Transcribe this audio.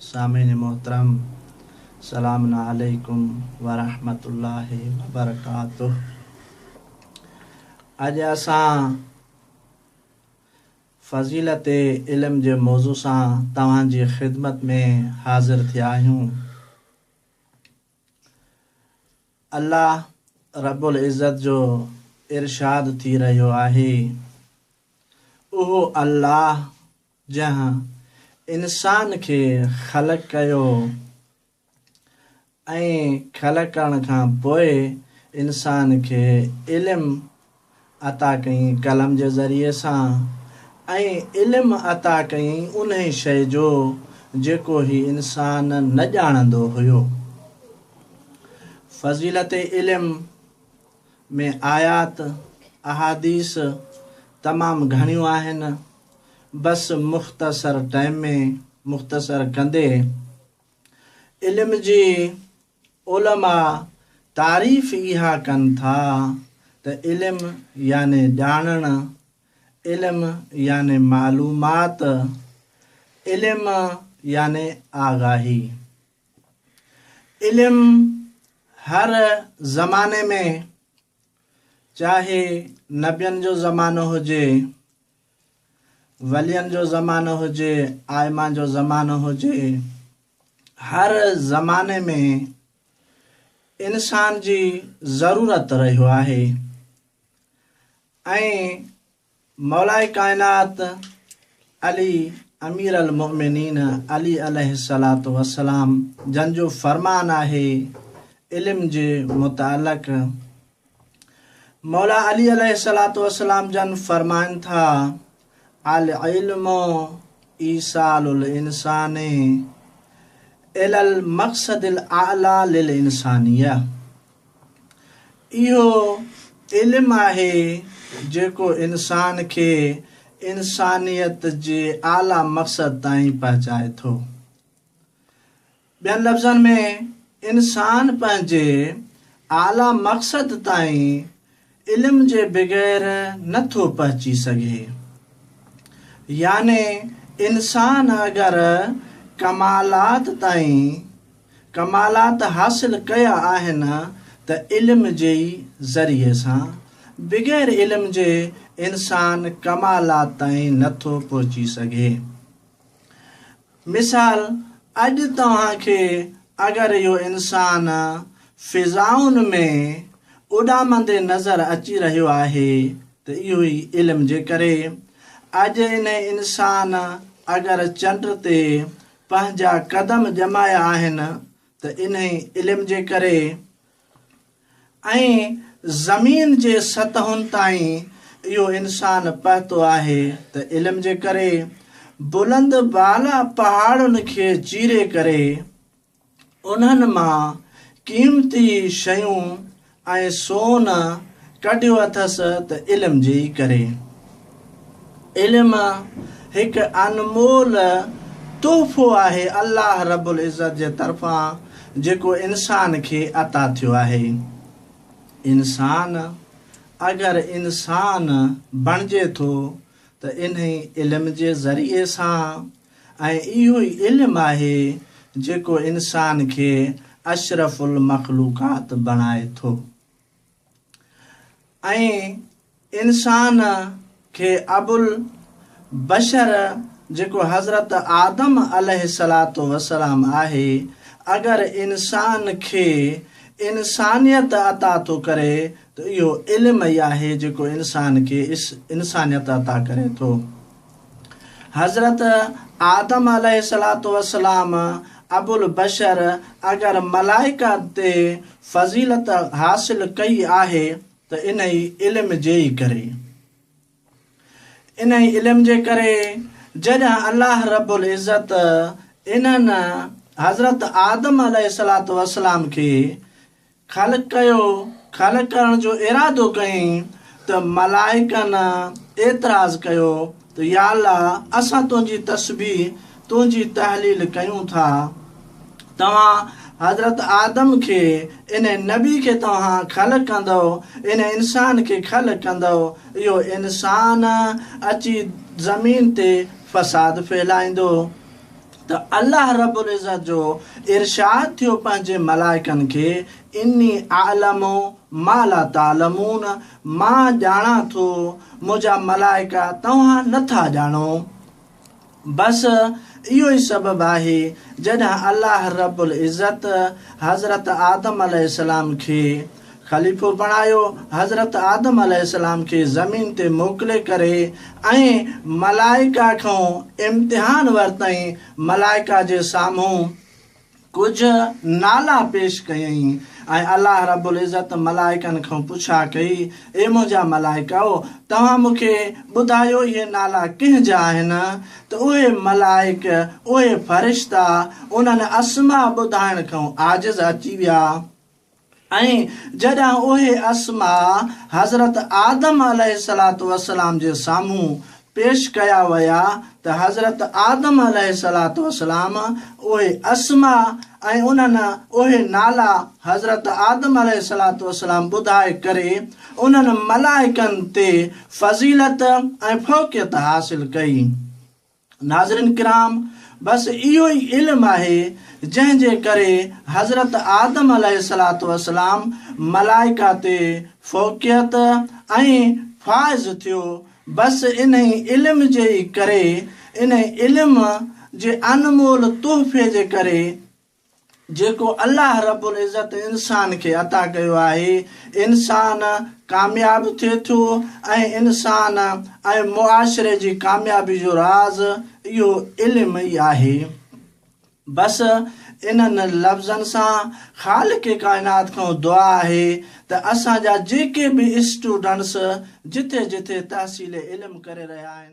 سامعين محترم سلام عليڪم ورحمة الله وبرڪاته اڄ اسان فضيلت علم جي موضوع سان توهان جي خدمت ۾ حاضر ٿيا آهيون الله رب العزت جو ارشاد ٿي رهيو آهي اهو الله جنهن انسان کي خلق ڪيو ۽ خلق ڪرڻ کان پوء انسان کي علم عطا ڪيائين قلم جي ذريعي سان ۽ علم عطا ڪيائين انهي شيء جو جيڪو هي انسان نه ڄاڻندو هيو. فضيلت علم. ۾ آيات، احاديث، تمام گهڻيون آهن، بس مختصر ٽئم ۾ مختصر ڪندي علم جي علماء تعريف اها ڪن ٿا ته علم يعني ڄاڻڻ، علم يعني معلومات، علم يعني آگاهي. علم هر زماني ۾ چاهي نبين جو زمانو هجي، ولين جو زمانو هجي، آئمه جو زمانو هجي، هر زماني ۾ انسان جي ضرورت رهيو آهي ۽ مولائي ڪائنات علي امير المؤمنين علي عليه الصلوة والسلام جن جو فرمان آهي علم جي متعلق مولا علي عليه الصلوة والسلام جن فرمائن ٿا العلم ايصال الانسان الي المقصد الاعلي للانسانيه اهو علم آهي جيڪو انسان کي انسانيت جي اعليٰ مقصد تائين پهچائي ٿو. ٻين لفظن ۾ انسان پنهنجي اعليٰ مقصد تائين علم جي بغير نه ٿو پهچي سگهي. يعني انسان اگر ڪمالات تائين ڪمالات حاصل ڪيا آهن ته علم جي ئي ذريعي سان، بغير علم جي انسان ڪمالات تائين نه ٿو پهچي سگهي. مثال، اڄ توهان کي اگر اهو انسان فضائن ۾ اڏامندي نظر اچي رهيو آهي ته اهو ئي علم جي ڪري. اڄ انهي انسان اگر چنڊ تي پنهنجا قدم ڄمايا آهن ته انهي علم جي ڪري. ۽ زمين جي سطحن تائين اهو انسان پهتو آهي ته علم جي ڪري بلند بالا پهاڙن کي چيري ڪري انهن مان قيمتي شيون ۽ سون ڪڍيو اٿس ته علم جي ئي ڪري. علم هڪ انمول تحفو آهي الله رب العزت جي طرفان جيڪو انسان کي عطا ٿيو آهي. انسان اگر انسان بڻجي ٿو ته انهي علم جي ذريعي سان ۽ اهو ئي علم آهي جيڪو انسان کي اشرف المخلوقات بڻائي ٿو. ۽ انسان کي ابوالبشر جيڪو حضرت آدم عليه الصلات والسلام آهي اگر انسان کي انسانيت عطا ٿو ڪري ته اهو علم ئي آهي جيڪو انسان کي انسانيت عطا ڪري ٿو. حضرت آدم عليه الصلوة والسلام ابوالبشر اگر ملائڪه تي فضيلت حاصل ڪئي آهي ته انهي علم جي ئي ڪري. انهي علم جي ڪري جڏهن الله رب العزت انهن حضرت آدم عليه الصلوة والسلام کي خالق ڪيو، خالق ڪرڻ جو ارادو ڪيائين ته ملائڪن اعتراض ڪيو ته يا الله اسان تنهنجي تسبيح، تنهنجي تحليل ڪيون ٿا. توهان حضرت آدم کي، انهي نبي کي توهان خلق ڪندؤ، انهي انسان کي خلق ڪندؤ، اهو انسان اچي زمين تي فساد ڦهلائيندو. ته الله رب العزت جو ارشاد ٿيو پنهنجي ملائڪن کي، اني اعلم ما لا تعلمون مان ڄاڻان ٿو منهنجا ملائڪا توهان نه ٿا ڄاڻو. بس اهو ئي سبب آهي جڏهن الله رب العزت حضرت آدم عليه السلام کي، خليفو بڻايو، حضرت آدم عليه السلام کي زمين تي موڪلي ڪري ۽ ملائڪه کان امتحان ورتائين، ملائڪه جي سامهون ڪجهه نالا پيش ڪيائين ۽ الله رب العزت ملائڪن کان پڇا ڪئي، اي منهنجا ملائڪؤ! توهان مون کي ٻڌايو اهي نالا ڪنهن جا آهن؟ ته اهي ملائڪ، اهي فرشتا، انهن اسماء ٻڌائڻ کان عاجز اچي ويا. ۽ جڏهن اهي اسماء حضرت آدم عليه الصلوة والسلام جي سامهون پيش ڪيا ويا ته حضرت آدم عليه الصلوة والسلام اهي اسماء ۽ انهن اهي نالا حضرت آدم عليه الصلوة والسلام ٻڌائي ڪري انهن ملائڪن تي فضيلت ۽ فوقيت حاصل ڪئي. ناظرين ڪرام! بس اهو ئي علم آهي جنهن جي ڪري حضرت آدم عليه الصلوة والسلام ملائڪه تي فوقيت ۽ فائز ٿيو، بس انهي علم جي ئي ڪري، انهي علم جي انمول تحفي جي ڪري، جيڪو الله رب العزت انسان کي عطا ڪيو آهي، انسان ڪامياب ٿئي ٿو ۽ انسان ۽ معاشري جي ڪاميابي جو راز اهو علم ئي آهي. بس انهن لفظن سان خالق ڪائنات کان دعا آهي ته اسان جا جيڪي به اسٽوڊنٽس جٿي جٿي تحصيل علم ڪري رهيا آهن،